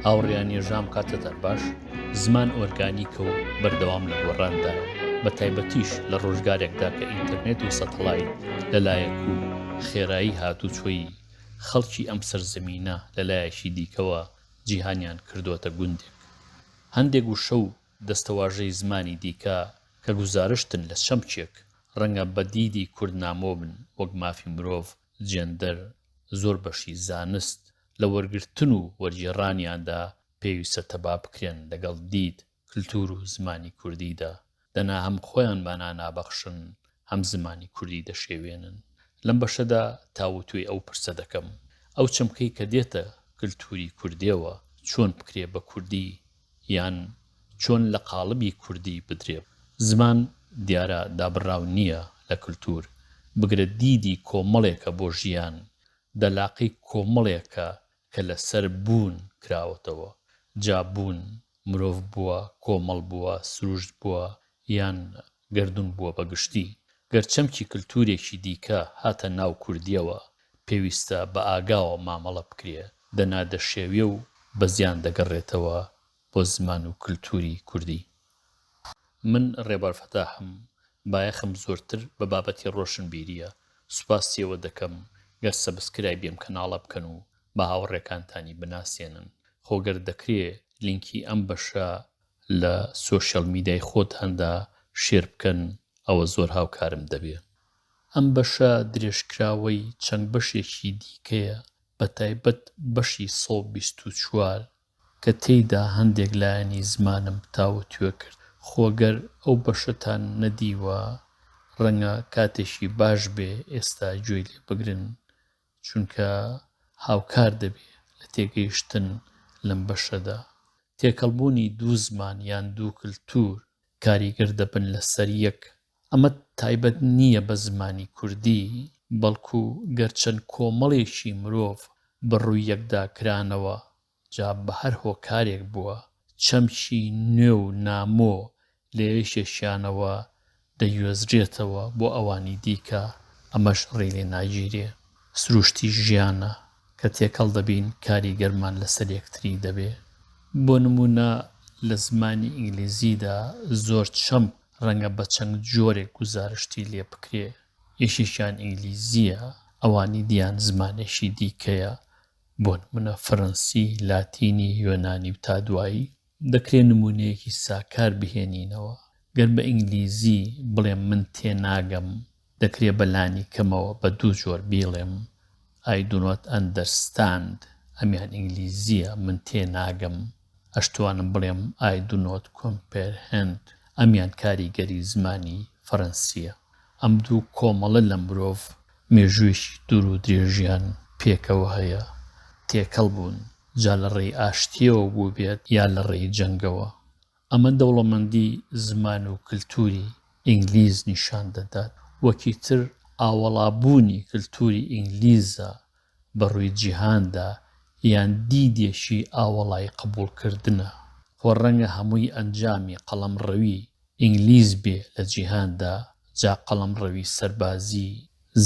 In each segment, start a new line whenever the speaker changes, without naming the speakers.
هاوڕێیان یەژام کاتتان باش زمان ئۆرگانیکە و بەردەوام لە گۆڕاندا بە تایبەتیش لە ڕۆژگارێکدا کە ئینتەرنێت و سەتەڵای لەلایەک و خێرایی هاتوچۆی خەڵکی ئەم سەرزەمینە لەلایەکی دیکەوە جیهانیان کردووەتە گوندێک هەندێک وشە و دەستەواژەی زمانی دیکە کە گوزارشتن لە چەمکێک، ڕەنگە بە دیدی کوردنامۆ بن، وەک مافی مرۆڤ، جێندەر، زۆر بەشی زانست، لە وەرگرتن و وەرگێڕانیاندا پێویستە تەبا بکرێن لەگەڵ دید، کلتوور و زمانی کوردیدا. دەنا هەم خۆیان مانا نابەخشن هەم زمانی کوردی دەشێوێنن لەم بەشەدا تاوتوێی ئەو پرسە دەکەم ئەو چەمکەی کە دێتە کللتوری کوردێەوە چۆن بکرێ بە کوردی یان چۆن لە قاڵبی کوردی بدرێ زمان دیارە دابڕاو نییە لە کللتور بگرە دیدی کۆمەڵێکە بۆ ژیان دەلاقەی کۆمەڵێکە کە لە سەر بوون کراوەتەوە، جا بوون مرۆڤ بووە، کۆمەڵ بووە، سروشت بووە، یان گەردوون بووە بە گشتی، گەر چەمکی کلتوورێکی دیکە هاتە ناو کوردییەوە، پێویستە بە ئاگاوە مامەڵە بکرێ، دەنا دەشێوێ و بە زیان دەگەڕێتەوە بۆ زمان و کلتوری کوردی. من ڕێبوار فەتاحم بایەخم زۆرتر بە بابەتی ڕۆشنبیریە سوپاستی ئەوە دەکەم گەر سەبسکرایبی ئەم کەناڵە بکەن و بە هاوڕێکانتانی بناسێنن خۆ گەر دەکرێ لینکی ئەم بەشە لە سۆشیال میدای خۆتاندا شێر بکەن ئەوە زۆر هاوکارم دەبێ. ئەم بەشە درێژکراوەی چەند بەشێکی دیکەیە بەتایبەت بەشی سەد و بیست و چوار کە تێیدا هەندێک لایەنی زمانم تاوتوێ کرد، خۆ گەر ئەو بەشەتان نەدیوە ڕەنگە کاتێکی باش بێ ئێستا گوێی لێ بگرن، چونکە هاوکار دەبێ لە تێگەیشتن لەم بەشەدا. تێکەڵبوونی دوو زمان یان دوو کلتوور کاریگەر دەبن لەسەر یەک ئەمە تایبەت نییە بە زمانی کوردی، بەڵکو گەر چەند کۆمەڵێکی مرۆڤ بە ڕووی یەکدا کرانەوە، جا بە هەر هۆکارێک بووە، چەمکی نوێ و نامۆ لە یەکێکیانەوە دەگوێزرێتەوە بۆ ئەوانی دیکە، ئەمەش ڕێی لێ ناگیرێ. سروشتی ژیانە، کە تێکەڵ دەبین کاریگەرمان لەسەر یەکتری دەبێ. بۆ نموونە لە زمانی ئینگلیزیدا زۆر چەمک ڕەنگە بە چەند جۆرێک گوزارشتی لێ بکرێ، یەکێکیان ئینگلیزییە، ئەوانی دیان زمانێکی دیکەیە، بۆ نموونە فەرەنسی، لاتینی، یۆنانی و تا دوایی. دەکرێ نموونەیەکی ساکار بهێنینەوە، گەر بە ئینگلیزی بڵێم من تێناگەم دەکرێ بە لانی کەمەوە بە دوو جۆر بیڵێم I do not understand ئەمیان ئینگلیزییە من تێ ناگەم، ئەشتوانم بڵێم I do not comprehend ئەمیان کاریگەری زمانی فەرەنسییە. ئەم دوو کۆمەڵە لە مرۆڤ مێژوویەکی دوور و درێژیان پێکەوە هەیە، تێکەڵ بوون، جا لە ڕێی ئاشتییەوە بووبێت یا لە ڕێی جەنگەوە. ئەمە دەوڵەمەندی زمان و کلتوری ئینگلیز نیشان دەدات وەکی تر ئاوەڵابوونی کلتوری ئینگلیزە بە ڕووی جیهاندا یان دیدێکی ئاوەڵای قبوڵکردنە، خۆ ڕەنگە هەمووی ئەنجامی قەڵەمڕەوی ئینگلیز بێ لە جیهاندا، جا قەڵەمڕەوی سەربازی،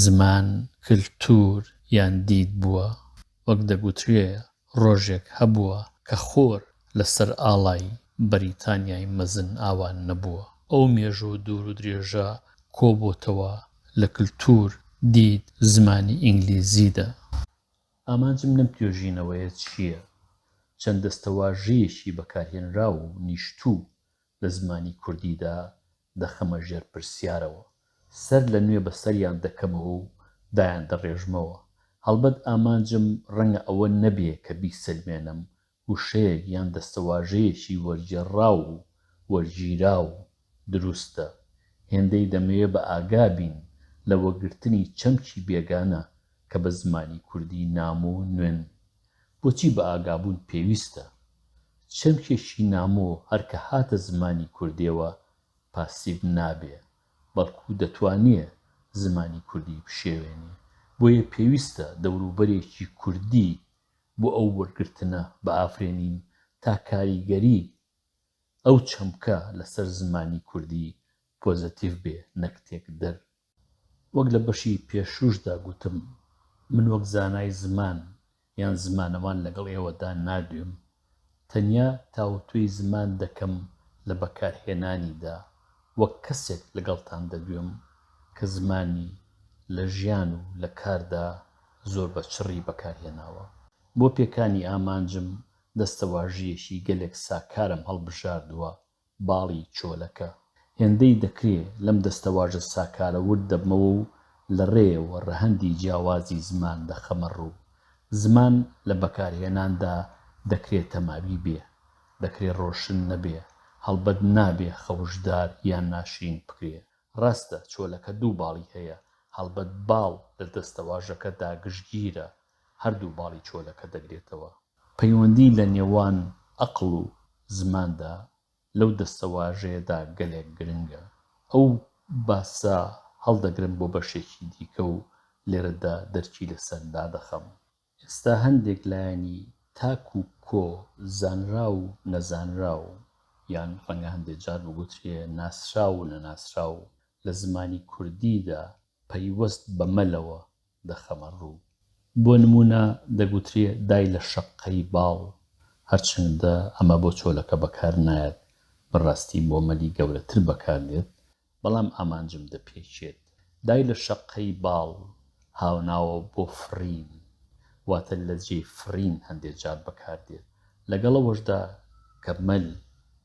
زمان، کلتور یان دید بووە، وەک دەگوترێ ڕۆژێک هەبووە کە خۆر لە سەر ئاڵای بەریتانیای مەزن ئاوا نەبووە. ئەو مێژوو دوور و درێژە کۆ بۆتەوە لە کلتوور، دید، زمانی ئینگلیزی دا. ئامانجم لەم توێژینەوەیە چییە؟ چەند دەستەواژەیەکی بەکارهێنراو و نیشتوو لە زمانی کوردی دا دەخەمە ژێر پرسیارەوە، سەر لە نوێ بە سەریان دەکەمەوە و دایاندەڕێژمەوە. هەڵبەت ئامانجم ڕەنگە ئەوە نەبێ کە بیسەلمێنم وشەیەک یان دەستەواژەیەکی وەرگێڕراو و وەرگیراو دروستە. هێندەی دەمەوێ بە ئاگا بین لە وەگرتنی چەمکی بێگانە کە بە زمانی کوردی نام و نوێن بۆچی بەئاگابوون پێویستە؟ چەمکێکی نامۆ هەر کە هاتە زمانی کوردیەوە پاسیڤ نابێ، بەڵکو دەتوانێ زمانی کوردی بشێوێنێ. بۆیە پێویستە دەوروبەرێکی کوردی بۆ ئەو وەرگرتنە بئافرێنین تا کاریگەری ئەو چەمکە لەسەر زمانی کوردی پۆزەتیڤ بێ نەک تێکدەر. وەک لە بەشی پێشووشدا گوتم، من وەک زانای زمان یان زمانەوان لەگەڵ ئێوەدا نادوێم، تەنیا تاوتوێی زمان دەکەم لە بەکارهێنانیدا، وەک کەسێک لەگەڵتان دەدوێم کە زمانی لە ژیان و لە کاردا زۆر بە چڕی بەکارهێناوە. بۆ پێکانی ئامانجم دەستەواژەیەکی گەلێک ساکارم هەڵبژاردووە باڵی چۆلەکە. هێندەی دەکرێ لەم دەستەواژە ساکارە ورد دەبمەوە و لە ڕێیەوە ڕەهەندی جیاوازی زمان دەخەمە ڕوو. زمان لە بەکارهێناندا دەکرێ تەماوی بێ، دەکرێ ڕۆشن نەبێ، هەڵبەت نابێ خەوشدار یان ناشرین بکرێ. ڕاستە چۆلەکە دوو باڵی هەیە، هەڵبەت باڵ لە دەستەواژەکەدا گشتگیرە، هەردوو باڵی چۆلەکە دەگرێتەوە. پەیوەندی لە نێوان ئەقڵ و زماندا لەو دەستەواژەیەدا گەلێک گرنگە. ئەو باسە هەڵدەگرم بۆ بەشێکی دیکە و لێرەدا دەرکی لەسەر دادەخەم. ئێستا هەندێک لایەنی تاک و کۆ، زانراو و نەزانراو، یان ڕەنگە هەندێ جار بگوترێ ناسراو و نەناسراو، لە زمانی کوردیدا پەیوەست بە مەلەوە دەخەمە ڕوو. بۆ نموونە دەگوترێ دای لە شەققەی باڵ، هەرچەندە ئەمە بۆ چۆلەکە بەکار نایەت، بە ڕاستی بۆ مەلی گەورەتر بەکار دێت، بەڵام ئامانجم دەپێکێت. دای لە شەققەی باڵ هاوناوە بۆ فڕین، واتە لە جێی فڕین هەندێ جار بەکار دێت. لەگەڵ ئەوەشدا کە مەل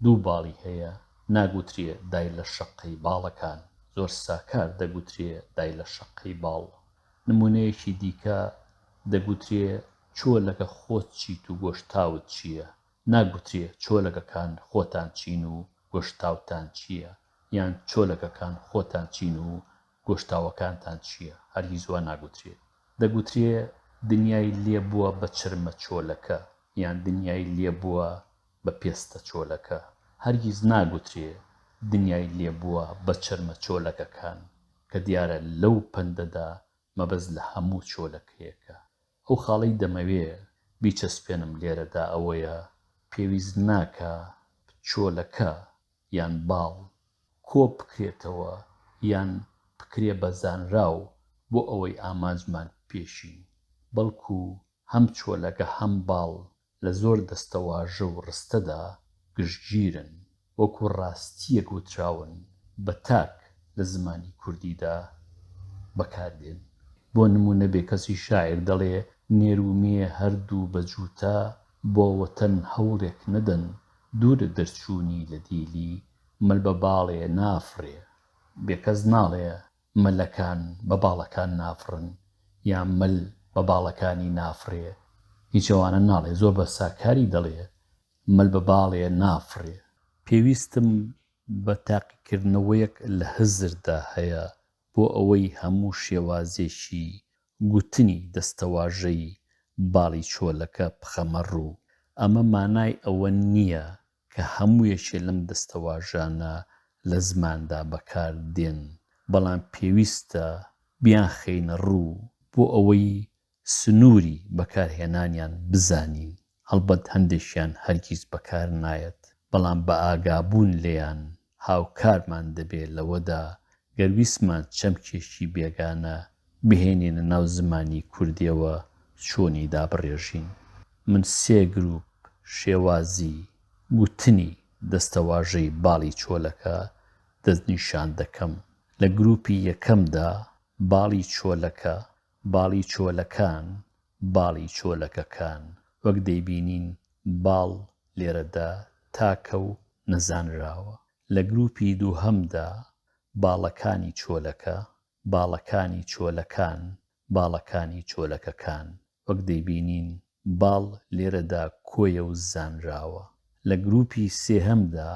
دوو باڵی هەیە، ناگوترێ دای لە شەققەی باڵەکان، زۆر ساکار دەگوترێ دای لە شەققەی باڵ. نموونەیەکی دیکە، دەگوترێ چۆلەکە خۆت چیت و گۆشتاوت چییە، ناگوترێ چۆلەکەکان خۆتان چین و گۆشتاوتان چییە، یان چۆلەکەکان خۆتان چین و گۆشتاوەکانتان چییە، هەرگیز وا ناگوترێت. دەگوترێ دنیای لێ بووە بە چرمە چۆلەکە یان دنیای لێ بووە بە پێستە چۆلەکە، هەرگیز ناگوترێ دنیای لێ بووە بە چرمە چۆلەکەکان، کە دیارە لەو پەندەدا مەبەست لە هەموو چۆلەکەیەکە. ئەو خاڵەی دەمەوێ بیچەسپێنم لێرەدا ئەوەیە، پێویست ناکا چۆلەکە یان باڵ کۆ بکرێتەوە یان بکرێ بە زانراو بۆ ئەوەی ئامانجمان پێشین بەڵکو هەم چۆلەکە هەم باڵ لە زۆر دەستەواژە و ڕستەدا گشتگیرن وەکو ڕاستییەک وتراون بە تاک لە زمانی کوردیدا بەکاردێن بۆ نموونە بێکەسی شاعیر دەڵێ نێر و مێ هەردوو بە جووتە بۆ وەتەن هەوڵێک نەدەن دوورە دەرچوونی لە دیلی مل بە باڵێ نافڕێ، بێ کەس ناڵێ ملەکان بە باڵەکان نافڕن یا مل بە باڵەکانی نافڕێ، هیچ ئەوانە ناڵێ، زۆر بە ساکاری دەڵێ مل بە باڵێ نافڕێ. پێویستم بە تاقیکردنەوەیەک لە هزردا هەیە بۆ ئەوەی هەموو شێوازێکی گوتنی دەستەواژەی باڵی چۆلەکە پخەمە ڕوو، ئەمە مانای ئەوە نییە کە هەموو یەکێ لەم دەستەواژانە لە زماندا بەکار دێن، بەڵام پێویستە بیانخەینە ڕوو بۆ ئەوەی سنووری بەکارهێنانیان بزانین. هەڵبەت هەندێکیان هەرگیز بەکار نایەت، بەڵام بە ئاگابوون لێیان هاوکارمان دەبێت لەوەدا گەر ویستمان چەمکێکی بێگانە بهێنینە ناو زمانی کوردیەوە چۆنی دابڕێژین. من سێ گروپ شێوازی گوتنی دەستەواژەی باڵی چۆلەکە دەستنیشان دەکەم، لە گروپی یەکەمدا باڵی چۆلەکە باڵی چۆلەکان، باڵی چۆلەکەکان، وەک دەیبینین باڵ لێرەدا تاکە و نەزانراوە. لە گرووپی دووهەمدا باڵەکانی چۆلەکە، باڵەکانی چۆلەکان، باڵەکانی چۆلەکەکان، وەک دەیبینین باڵ لێرەدا کۆیە و زانراوە. لە گرووپی سێهەمدا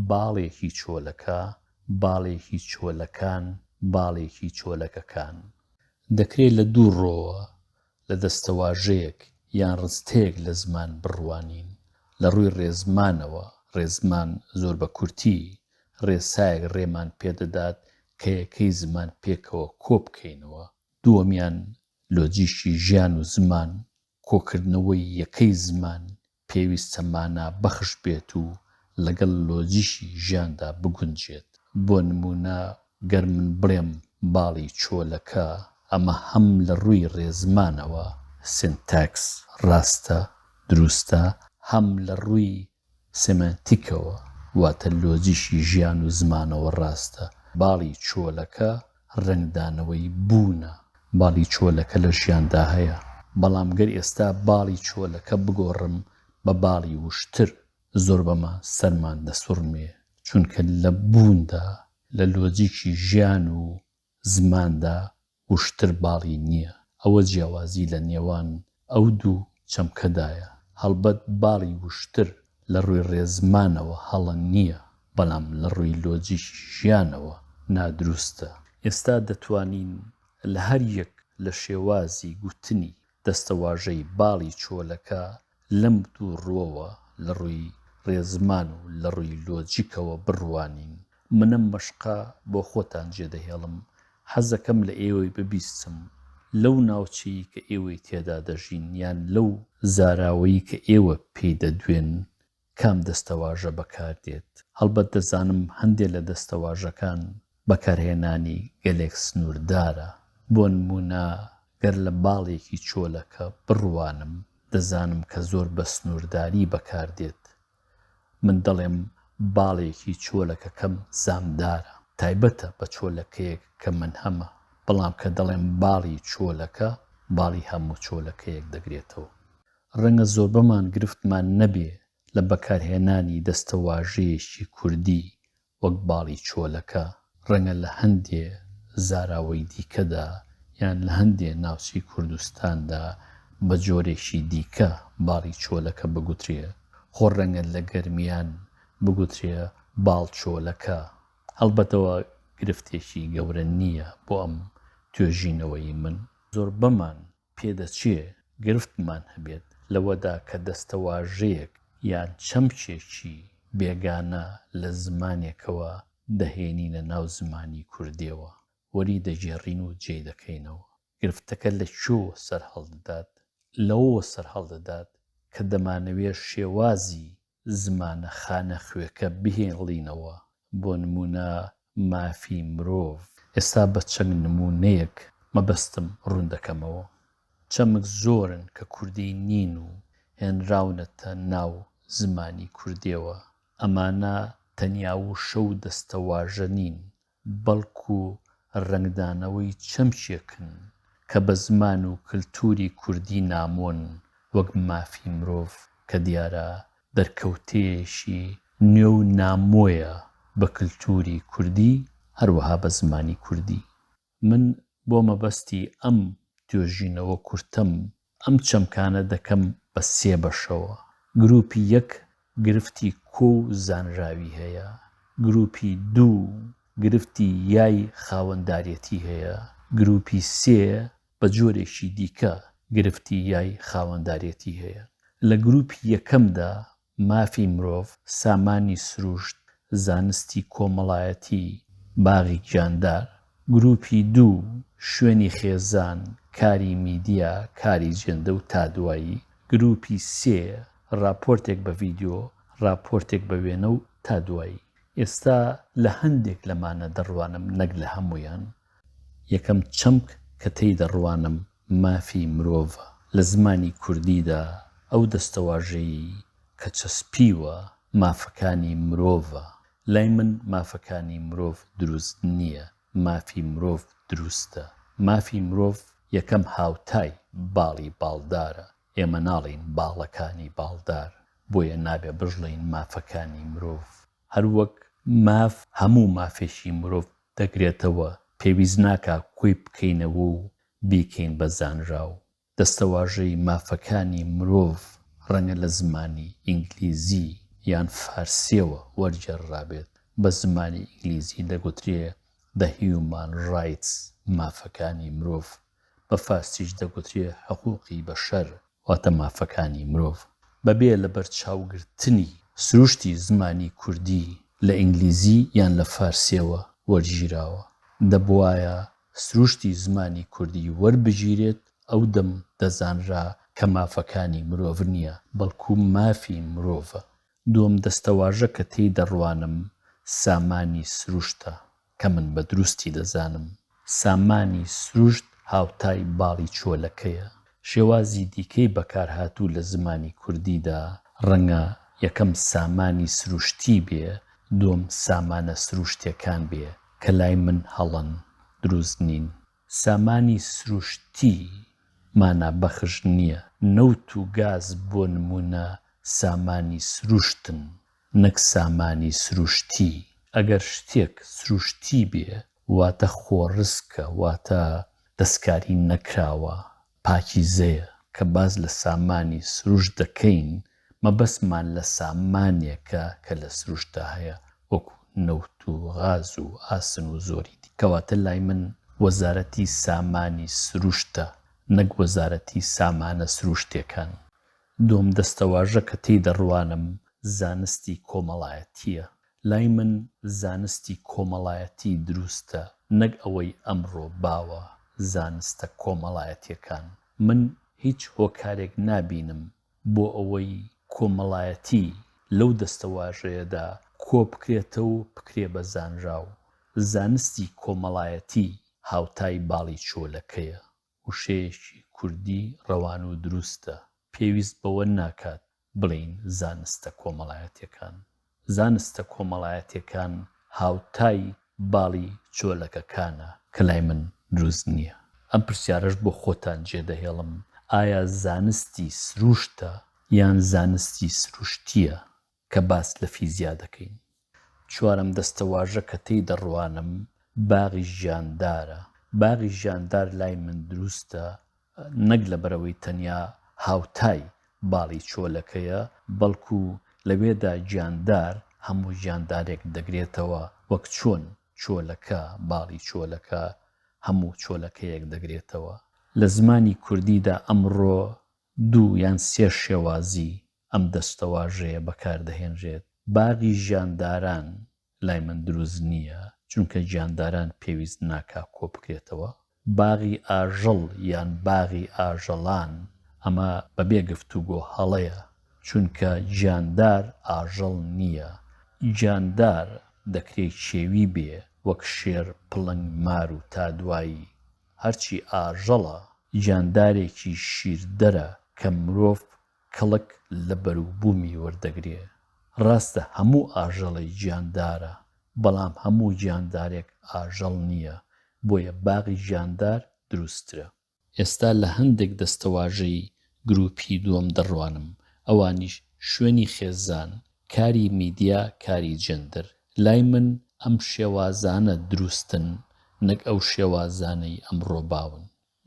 باڵێکی چۆلەکە، باڵێکی چۆلەکان، باڵێکی چۆلەکەکان. دەکرێ لە دوو ڕۆوە، لە دەستەواژەیەک یان ڕستەیەک لە زمان بڕوانین. لە ڕووی ڕێزمانەوە، ڕێزمان زۆر بە کورتی، ڕێسایەک ڕێمان پێ دەدات کە یەکەی زمان پێکەوە کۆ بکەینەوە. دووەمیان لۆجیکی ژیان و زمان، کۆکردنەوەی یەکەی زمان پێویستە مانا بەخش بێت و لەگەڵ لۆجیکی ژیاندا بگونجێت. بۆ نموونە گەر من بڵێم باڵی چۆلەکە، ئەمە هەم لە ڕووی ڕێزمانەوە، Syntax، ڕاستە، دروستە، هەم لە ڕووی سێمانتیکەوە واتە لۆجیکی ژیان و زمانەوە ڕاستە. باڵی چۆلەکە ڕەنگدانەوەی بوونە. باڵی چۆلەکە لە ژیاندا هەیە. بەڵام گەر ئێستا باڵی چۆلەکە بگۆڕم بە باڵی وشتر، زۆر بەمە سەرمان دەسوڕمێ، چونکە لە بووندا، لە لۆجیکی ژیان و زماندا وشتر باڵی نییە، ئەوە جیاوازی لە نێوان ئەو دوو چەمکەدایە، هەڵبەت باڵی وشتر لە ڕووی ڕێزمانەوە هەڵە نییە، بەڵام لە ڕووی لۆجیکی ژیانەوە نادروستە. ئێستا دەتوانین لە هەر یەک لە شێوازی گوتنی دەستەواژەی باڵی چۆلەکە لەم دوو ڕووەوە، لە ڕووی ڕێزمان و لە ڕووی لۆجیکەوە بڕوانین، من ئەم مەشقە بۆ خۆتان جێدەهێڵم، حەزەکەم لە ئێوەی ببیستم، لەو ناوچەی کە ئێوەی تێدا دەژین یان لەو زاراوەی کە ئێوە پێی دەدوێن، کام دەستەواژە بەکار دێت؟ هەڵبەت دەزانم هەندێ لە دەستەواژەکان بەکارهێنانی گەلێک سنووردارە، بۆ نموونە گەر لە باڵێکی چۆلەکە بڕوانم، دەزانم کە زۆر بە سنوورداری بەکار دێت. من دەڵێم باڵێکی چۆلەکەکەم زامدارە. تایبەتە بە چۆلەکەیەک کە من هەمە، بەڵام کە دەڵێم باڵی چۆلەکە، باڵی هەموو چۆلەکەیەک دەگرێتەوە. ڕەنگە زۆربەمان گرفتمان نەبێ لە بەکارهێنانی دەستەواژەیەکی کوردی وەک باڵی چۆلەکە، ڕەنگە لە هەندێ زاراوەی دیکەدا یان لە هەندێ ناوچەی کوردستاندا بە جۆرێکی دیکە باڵی چۆلەکە بگوترێ، خۆ ڕەنگە لە گەرمیان بگوترێ باڵچۆلەکە، هەڵبەت ئەوە گرفتێکی گەورە نییە بۆ ئەم توێژینەوەی من. زۆربەمان پێدەچێ گرفتمان هەبێت لەوەدا کە دەستەواژەیەک یان چەمکێکی بێگانە لە زمانێکەوە دەهێنینە ناو زمانی کوردییەوە، وەری دەگێڕین و جێی دەکەینەوە. گرفتەکە لە کوێوە سەرهەڵدەدات؟ لەوەوە سەرهەڵدەدات کە دەمانەوێ شێوازی زمانە خانەخوێکە بهێڵینەوە، بۆ نموونە مافی مرۆڤ. ئێستا بە چەند نموونەیەک مەبەستم ڕوون دەکەمەوە. چەمک زۆرن کە کوردی نین و هێنراونەتە ناو زمانی کوردییەوە. ئەمانە تەنیا وشە و دەستەواژە نین، بەڵکو ڕەنگدانەوەی چەمکێکن کە بە زمان و کلتوری کوردی نامۆن وەک مافی مرۆڤ کە دیارە دەرکەوتەیەکی نوێ و نامۆیە بە کلتوری کوردی هەروەها بە زمانی کوردی. من بۆ مەبەستی ئەم توێژینەوە کورتەم ئەم چەمکانە دەکەم بە سێ بەشەوە، گرووپی یەک گرفتی کۆ و زانراوی هەیە، گرووپی دوو گرفتی یای خاوەندارێتی هەیە، گرووپی سێ بە جۆرێکی دیکە گرفتی یای خاوەندارێتی هەیە. لە گرووپی یەکەمدا مافی مرۆڤ، سامانی سروشت، زانستی کۆمەڵایەتی، باغی گیاندار، گروپی دوو، شوێنی خێزان، کاری میدیا، کاری جێندە و تا دوایی، گروپی سێ، ڕاپۆرتێک بە ڤیدیۆ، ڕاپۆرتێک بە وێنە و تا دوایی. ئێستا لە هەندێک لەمانە دەڕوانم نەک لە هەموویان. یەکەم چەمک کە تێی دەڕوانم مافی مرۆڤ لە زمانی کوردیدا ئەو دەستەواژەیی کە چەسپیوە مافەکانی مرۆڤە، لای من مافەکانی مرۆڤ دروست نییە، مافی مرۆڤ دروستە. مافی مرۆڤ یەکەم هاوتای باڵی باڵدارە، ئێمە ناڵێین باڵەکانی باڵدار، بۆیە نابێ بژڵێین مافەکانی مرۆڤ. هەر وەک ماف هەموو مافێکی مرۆڤ دەگرێتەوە، پێویست ناکا کۆی بکەینەوە و بیکەین بە زانراو. دەستەواژەی مافەکانی مرۆڤ ڕەنگە لە زمانی ئینگلیزی یان فارسییەوە وەرگێڕرابێت، بە زمانی ئینگلیزی دەگوترێ The Human Rights، مافەکانی مرۆڤ، بە فارسیش دەگوترێ حقوقی بشر، واتە مافەکانی مرۆڤ، بەبێ لەبەرچاوگرتنی سروشتی زمانی کوردی لە ئینگلیزی یان لە فارسییەوە وەرگیراوە، دەبوایە سروشتی زمانی کوردی وەربگیرێت، ئەو دەم دەزانرا کە مافەکانی مرۆڤ نییە، بەڵکو مافی مرۆڤە. دووەم دەستەواژە کە تێی دەڕوانم سامانی سروشتە، کە من بە دروستی دەزانم. سامانی سروشت هاوتای باڵی چۆلەکەیە. شێوازی دیکەی بەکارهاتوو لە زمانی کوردیدا، ڕەنگە یەکەم سامانی سروشتی بێ، دووەم سامانە سروشتێکان بێ. کە لای من هەڵەن، دروست نین. سامانی سروشتی مانا بەخش نییە، نەوت و گاز بۆ نموونە سامانی سروشتن نەک سامانی سروشتی، ئەگەر شتێک سروشتی بێ واتە خۆڕسکە واتە دەستکاری نەکراوە پاکیزەیە کە باس لە سامانی سروشت دەکەین مەبەستمان لە سامانێکە کە لە سروشتدا هەیە وەکو نەوت و غاز و ئاسن و زۆری دی کەواتە لای من وەزارەتی سامانی سروشتە نەک وەزارەتی سامانە سروشتێکان. دووەم دەستەواژە کە تێی دەڕوانم زانستی کۆمەڵایەتییە لای من زانستی کۆمەڵایەتی دروستە نەک ئەوەی ئەمڕۆ باوە زانستە کۆمەڵایەتیەکان من هیچ هۆکارێک نابینم بۆ ئەوەی کۆمەڵایەتی لەو دەستەواژەیەدا کۆبکرێتەو بکرێ بە زانراو زانستی کۆمەڵایەتی هاوتای باڵی چۆلەکەیە وشەیەکی کوردی ڕەوان و دروستە، پێویست بەوە ناکات بڵێین زانستە کۆمەڵایەتیەکان، زانستە کۆمەڵایەتیەکان هاوتای باڵی چۆلەکەکانە، کە لای من دروست نیە، ئەم پرسیارەش بۆ خۆتان جێ دەهێڵم، ئایا زانستی سروشتە یان زانستی سروشتیە؟ کە باس لە فیزیا دەکەین. چوارەم دەستەواژە کە تێی دەڕوانم باغی ژیاندارە. باغی ژیاندار لای من دروستە نەک لەبەرئەوەی تەنیا هاوتای باڵی چۆلەکەیە، بەڵکو لەوێدا گیاندار هەموو گیاندارێک دەگرێتەوە، وەک چۆن چۆلەکە باڵی چۆلەکە هەموو چۆلەکەیەک دەگرێتەوە. لە زمانی کوردیدا ئەمڕۆ دوو یان سێ شێوازی ئەم دەستەواژەیە بەکار دەهێنرێت، باغی ژیانداران لای من دروست نییە، چونکە گیانداران پێویست ناکا کۆبکرێتەوە، باغی ئاژەڵ یان باغی ئاژەڵان، ئەمە بەبێ گفتوگۆ هەڵەیە، چونکە گیاندار ئاژەڵ نییە، گیاندار دەکرێ کێوی بێ، وەک شێر، پڵنگ، مار و تا دوایی، هەرچی ئاژەڵە، گیاندارێکی شیردەرە کە مرۆڤ کەڵک لە بەروبوومی وەردەگرێ. ڕاستە هەموو ئاژەڵێ گیاندارە، بەڵام هەموو گیاندارێک ئاژەڵ نییە، بۆیە باغی گیاندار دروستترە. ئێستا لە هەندێک دەستەواژەی گرووپی دووەم دەڕوانم، ئەوانیش، شوێنی خێزان، کاری میدیا، کاری جێندەر. لای من ئەم شێوازانە دروستن، نەک ئەو شێوازانەی ئەمڕۆ باون.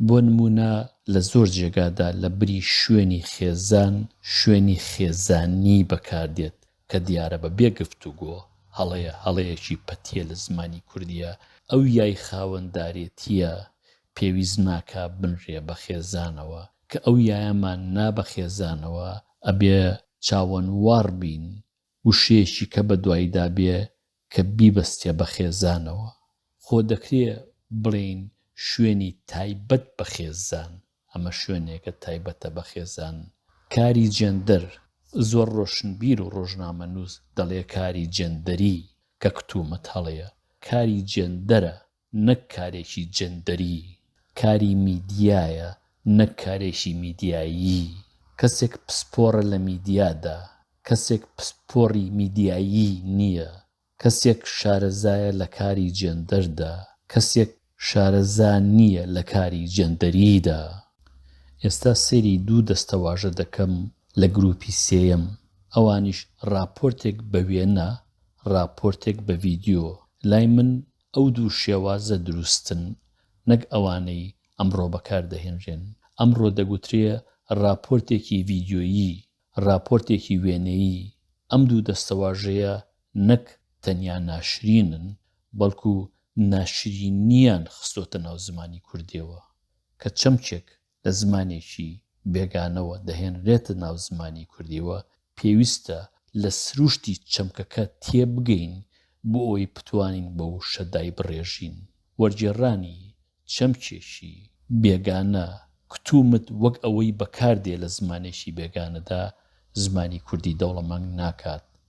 بۆ نموونە لە زۆر جێگادا لە بری شوێنی خێزان شوێنی خێزانی بەکار دێت کە دیارە بە بێ گفتوگۆ هەڵەیە، هەڵەیەکی پەتییە لە زمانی کوردیا، ئەو یای خاوەندارێتییە پێویست ناکا بنرێ بە خێزانەوە، کە ئەو یایەمان نا بە خێزانەوە ئەبێ چاوەنواڕ بین وشەیەکی کە بە دوایدا بێ کە بیبەستیە بە خێزانەوە، خۆ دەکرێ بڵێین شوێنی تایبەت بە خێزان، ئەمە شوێنێکە تایبەتە بە خێزان. کاری جێندەر، زۆر ڕۆشنبیر و ڕۆژنامەنووس دەڵێ کاری جێندەری، کە کتومت هەڵەیە، کاری جێندەرە، نەک کارێکی جێندەری، کاری میدیایە نەک کارێکی میدیایی، کەسێک پسپۆڕە لە میدیادا، کەسێک پسپۆڕی میدیایی نییە، کەسێک شارەزایە لە کاری جێندەردا، کەسێک شارەزا نییە لە کاری جێندەریدا. ئێستا سەیری دوو دەستەواژە دەکەم لە گرووپی سێیەم، ئەوانیش ڕاپۆرتێک بە وێنە، ڕاپۆرتێک بە ڤیدیۆ. لای من ئەو دوو شێوازە دروستن نەک ئەوانەی ئەمڕۆ بەکاردەهێنرێن. ئەمڕۆ دەگوترێ ڕاپۆرتێکی ڤیدیۆیی، ڕاپۆرتێکی وێنەیی. ئەم دوو دەستەواژەیە نەک تەنیا ناشرینن، بەڵکو ناشرینییان خستۆتە ناو زمانی کوردییەوە کە چەمکێک لە زمانێکی بێگانەوە دەهێنرێتە ناو زمانی کوردییەوە، پێویستە لە سروشتی چەمکەکە تێبگەین بۆ ئەوەی بتوانین بە وشە دایبڕێژین. وەرگێڕانی چەمکێکی بێگانە، کتومت، وەک ئەوەی بەکاردێ لە زمانێکی بێگانەدا، زمانی کوردی دەوڵەمەنگ ناکات،